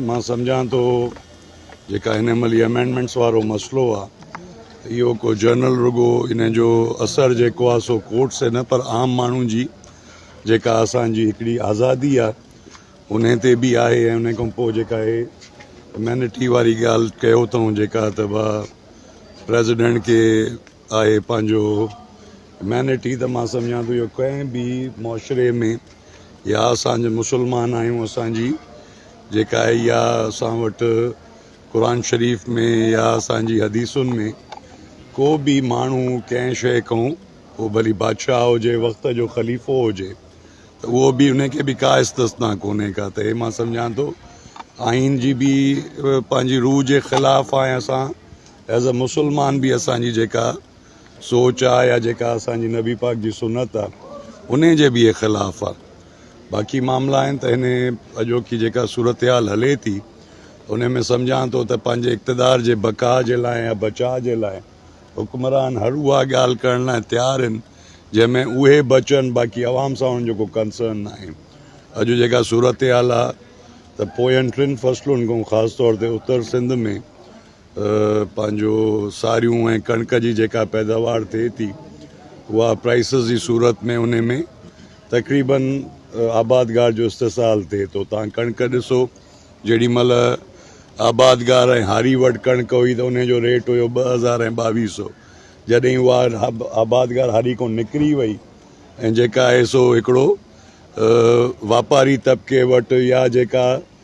مان سمجهان ٿو جيڪا هن مهل هي امينڊمينٽس وارو مسئلو آ اهو ڪو جنرل رڳو ان جو اثر جيڪو آ سو ڪورٽ سي نه پر عام ماڻهو جي جيڪا اسان جي هڪڙي آزادي آ ان تي به آهي ۽ ان کان پوء جيڪا هي امينٽي واري ڳالهه ڪيو اٿئون جيڪا ته ڀا پريزيڊنٽ کي آهي پنهنجو هيومينٽي ته مان سمجهان ٿو جو ڪنهن به معاشري ۾ يا اسان جي مسلمان آهيون اسانجي جيڪا آهي يا اسان وٽ قرآن شريف ۾ يا اسانجي حديثن ۾ ڪو به ماڻهو ڪنهن شيء کان هو ڀلي بادشاهه هجي وقت جو خليفو هجي ته اهو به ان کي به ڪا استثنا ڪونهي ڪا ته هي مان سمجهان ٿو آئين جي به پنهنجي روح جي خلاف آهي اسان ايز اي مسلمان به اسان جي جيڪا سوچ آ يا جيڪا اسان جي نبي پاڪ جي سنت آ انهي جي به خلاف آ باقي معاملا آهن ته هن اڄوڪي جيڪا صورتحال هلي ٿي انهي ۾ سمجهان ٿو ته پنهنجي اقتدار جي بقا جي لاء يا بچاء جي لاء حڪمران هر اها ڳالهه ڪرڻ لاء تيار آهن جنهن ۾ اهي بچن باقي عوام سان انهن جو ڪو ڪنسرن ناهي اڄ جيڪا صورتحال آ ته پوين ٽن فصلن کان خاص طور تي اتر سنڌ ۾ پنهنجو ساريون ۽ ڪڻڪ جي جيڪا پيداوار ٿئي ٿي اها پرائسز جي صورت ۾ ان ۾ تقريبن آبادگار جو استحصال ٿئي ٿو تان ڪڻڪ ڏسو جيڏي مهل آبادگار ۽ هاري وٽ ڪڻڪ هئي ته ان جو ريٽ هيو ٻه هزار ۽ ٻاويهه سو جڏهن اها آبادگار هاري کان نڪري وئي ۽ جيڪا آهي سو هڪڙو واپاري طبقي وٽ يا جيڪا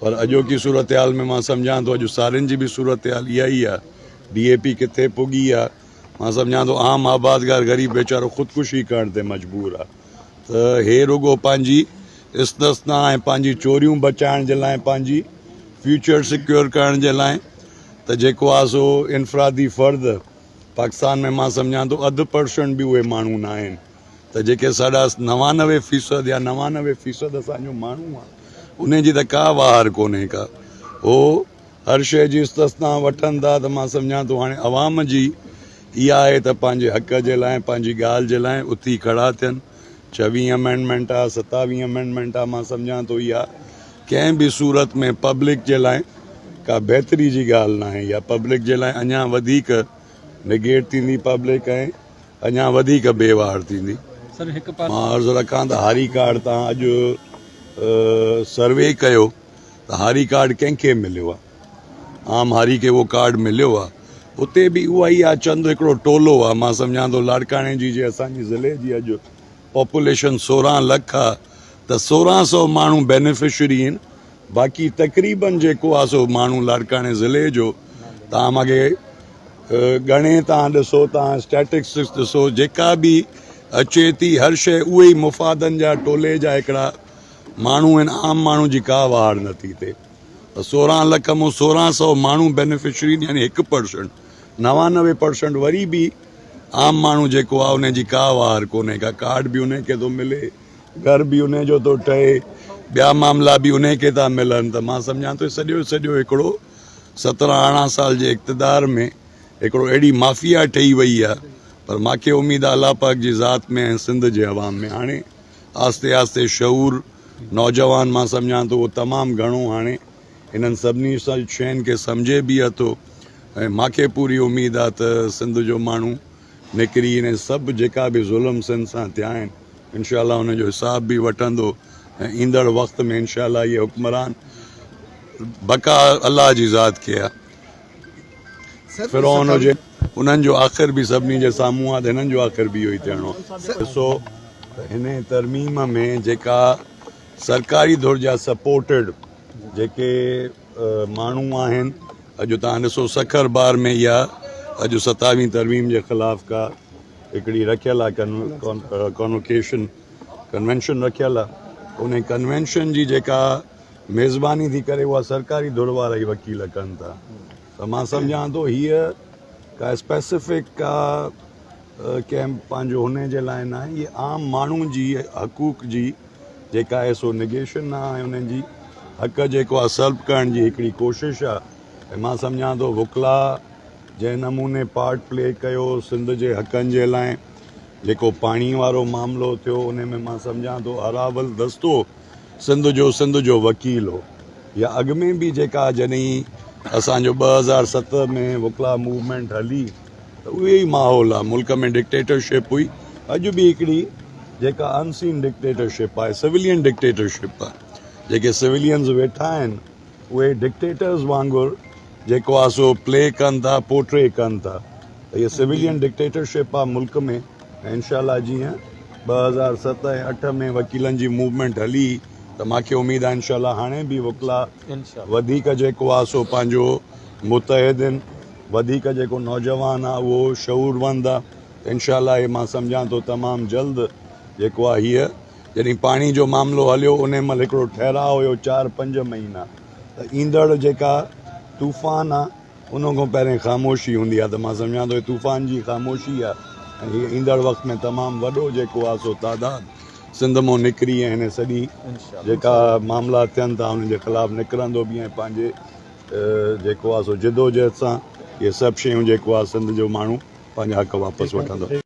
پر اڄوڪي صورتحال ۾ مان سمجهان ٿو اڄ سارين جي به صورتحال اها ئي آهي، ڊي اي پي ڪٿي پڳي آهي، مان سمجهان ٿو عام آبادگار غريب ويچارو خودڪشي ڪرڻ تي مجبور آهي ته هي رڳو پنهنجي استثنا ۽ پنهنجي چوريون بچائڻ جي لاء پنهنجي فيوچر سيڪيور ڪرڻ جي لاء ته جيڪو آهي سو انفرادي فرد پاڪستان ۾ مان سمجهان ٿو اڌ پرسنٽ به اهي ماڻهو نه آهن ته جيڪي ساڍا نوانوي فيصد يا نوانوي فيصد اسان جو ماڻهو آهي انهي جي ته ڪا واهر ڪونهي ڪا هو هر شيء جي استثنا وٺن ٿا ته مان سمجهان ٿو هاڻي عوام جي اها آهي ته پنهنجي حق جي لاء پنهنجي ڳالهه جي لاء اٿي کڙا ٿين ڇويهين امينڊمينٽ آهي ستاويهين امينڊمينٽ آهي مان سمجهان ٿو اها ڪنهن به صورت ۾ پبلڪ جي لاء ڪا بهتري جي ڳالهه ناهي يا پبلڪ جي لاء اڃا وڌيڪ نيگيٽ ٿيندي پبلڪ ۽ اڃا وڌيڪ بي واهڙ ٿيندي. مان عرض رکان ته هاري ڪارڊ تان اڄ سروي ڪيو ته هاري ڪارڊ ڪنهن کي مليو آهي عام هاري کي اهو ڪارڊ مليو آهي اتي به اها ئي آهي چند هڪڙو ٽولو آهي مان سمجهان ٿو لاڙڪاڻي جي جي اسان جي ضلعي جي اڄ پاپوليشن سورهن لک آهي ته سورهن سو ماڻهو بينيفشري آهن باقي تقريبن جيڪو آ سو ماڻهو لاڙڪاڻي ضلعي جو تان ماڳي ڳڻي تان ڏسو تان اسٽيٽڪسس ڏسو جيڪا به اچي ٿي هر شيء اهي ئي مفادن جا ٽولي جا هڪڙا ماڻهو آهن عام ماڻهو جي ڪا واڙ نه ٿي ٿئي ته سورهن لک مون سورهن سو ماڻهو بينيفشري يعني هڪ پرسنٽ نوانوي پرسنٽ وري به عام ماڻهو جيڪو آ ان جي ڪا واهر ڪونهي ڪا ڪارڊ به ان کي ٿو ملي گهر به انهي جو ٿو ٺهي، ٻيا معاملا به انهي کي ٿا ملن ته مان سمجهان ٿو سڄو جو سڄو هڪڙو سترهن ارڙهن سال جي اقتدار ۾ هڪڙو اهڙي مافيا ٺهي وئي آهي پر مان کي اميد آهي الله پاڪ جي ذات ۾ ۽ سنڌ جي عوام ۾ هاڻي آهستي آهستي شعور نوجوان مان سمجهان ٿو اهو تمام گهڻو هاڻي انهن سڀني شين کي سمجهي به اٿو ۽ مان کي پوري اميد آهي ته سنڌ جو ماڻهو نڪري ۽ سڀ جيڪا به ظلم سنڌ سان ٿيا آهن انشاء الله ان جو حساب به وٺندو ۽ ايندڙ وقت ۾ انشاء الله اهي حڪمران بقا الله جي ذات کي آهي فرعون هجي انهن جو آخر به سڀني جي سامهون آهي ته هنن جو آخر به اهو ئي ٿيڻو آهي ڏسو ته هن ترميم ۾ جيڪا سرڪاري ڌر جا سپورٽيڊ جيڪي ماڻهو آهن اڄ تان ڏسو سکر بار ۾ يا اڄ ستاوين ترميم جي خلاف ڪا هڪڙي رکيل آ ڪانوڪيشن ڪنوينشن رکيل آ ان ڪنوينشن جي جيڪا ميزباني ٿي ڪري اها سرڪاري ڌر وارا ئي وڪيل ڪن ٿا ته مان سمجهان ٿو هيء ڪا اسپيسيفڪ ڪا ڪنهن پنهنجو هن جي لاء ناهي هيء عام ماڻهو جي حقوق جي جيڪا آهي سو نيگيشن نه آهي انهن جي حق جيڪو آهي سلپ ڪرڻ جي هڪڙي ڪوشش آهي ۽ مان سمجهان ٿو وڪلا جنهن نموني پارٽ پلي ڪيو سنڌ جي حقن جي لاء جيڪو پاڻي وارو معاملو ٿيو ان ۾ مان سمجهان ٿو اراول دستو سنڌ جو سنڌ جو وڪيل هو يا اڳ ۾ به جيڪا جڏهن اسان جو ٻه هزار ست ۾ وڪلا موومينٽ هلي ته اهو ئي ماحول آهي، ملڪ ۾ ڊڪٽيٽرشپ هئي، اڄ به هڪڙي جيڪا ان سين ڊڪٽيٽرشپ آهي، سويلين ڊڪٽيٽرشپ آهي، جيڪي سويلينز ويٺا آهن اهي ڊڪٽيٽرز وانگر جيڪو آهي سو پلي ڪن ٿا، پورٽري ڪن ٿا، ته هيء سويلين ڊڪٽيٽرشپ آهي ملڪ ۾ ۽ انشاء الله جيئن ٻه هزار ست ۽ اٺ ۾ وڪيلن جي موومينٽ هلي ته مان کي اميد آهي انشاء الله هاڻي به وڪلا وڌيڪ جيڪو آهي سو پنهنجو متحدين وڌيڪ جيڪو نوجوان آ اهو شعوروند آ ته انشاء الله هي مان سمجهان ٿو تمام جلد جيڪو آ هيء جڏهن پاڻي جو معاملو هليو انهي مهل هڪڙو ٺهراء هيو چار پنج مهينا ته ايندڙ جيڪا طوفان آ ان کان پهرين خاموشي هوندي آ ته مان سمجهان ٿو هي طوفان جي خاموشي آ ۽ هي ايندڙ وقت ۾ تمام وڏو جيڪو آ سو تعداد سنڌ مان نڪري ۽ هن سڄي جيڪا معاملا ٿين ٿا انهن جي خلاف نڪرندو به ۽ پنهنجي جيڪو آ سو جدوجهد سان اهي سڀ شيون جيڪو آ سنڌ جو ماڻهو پنهنجا حق واپس وٺندو.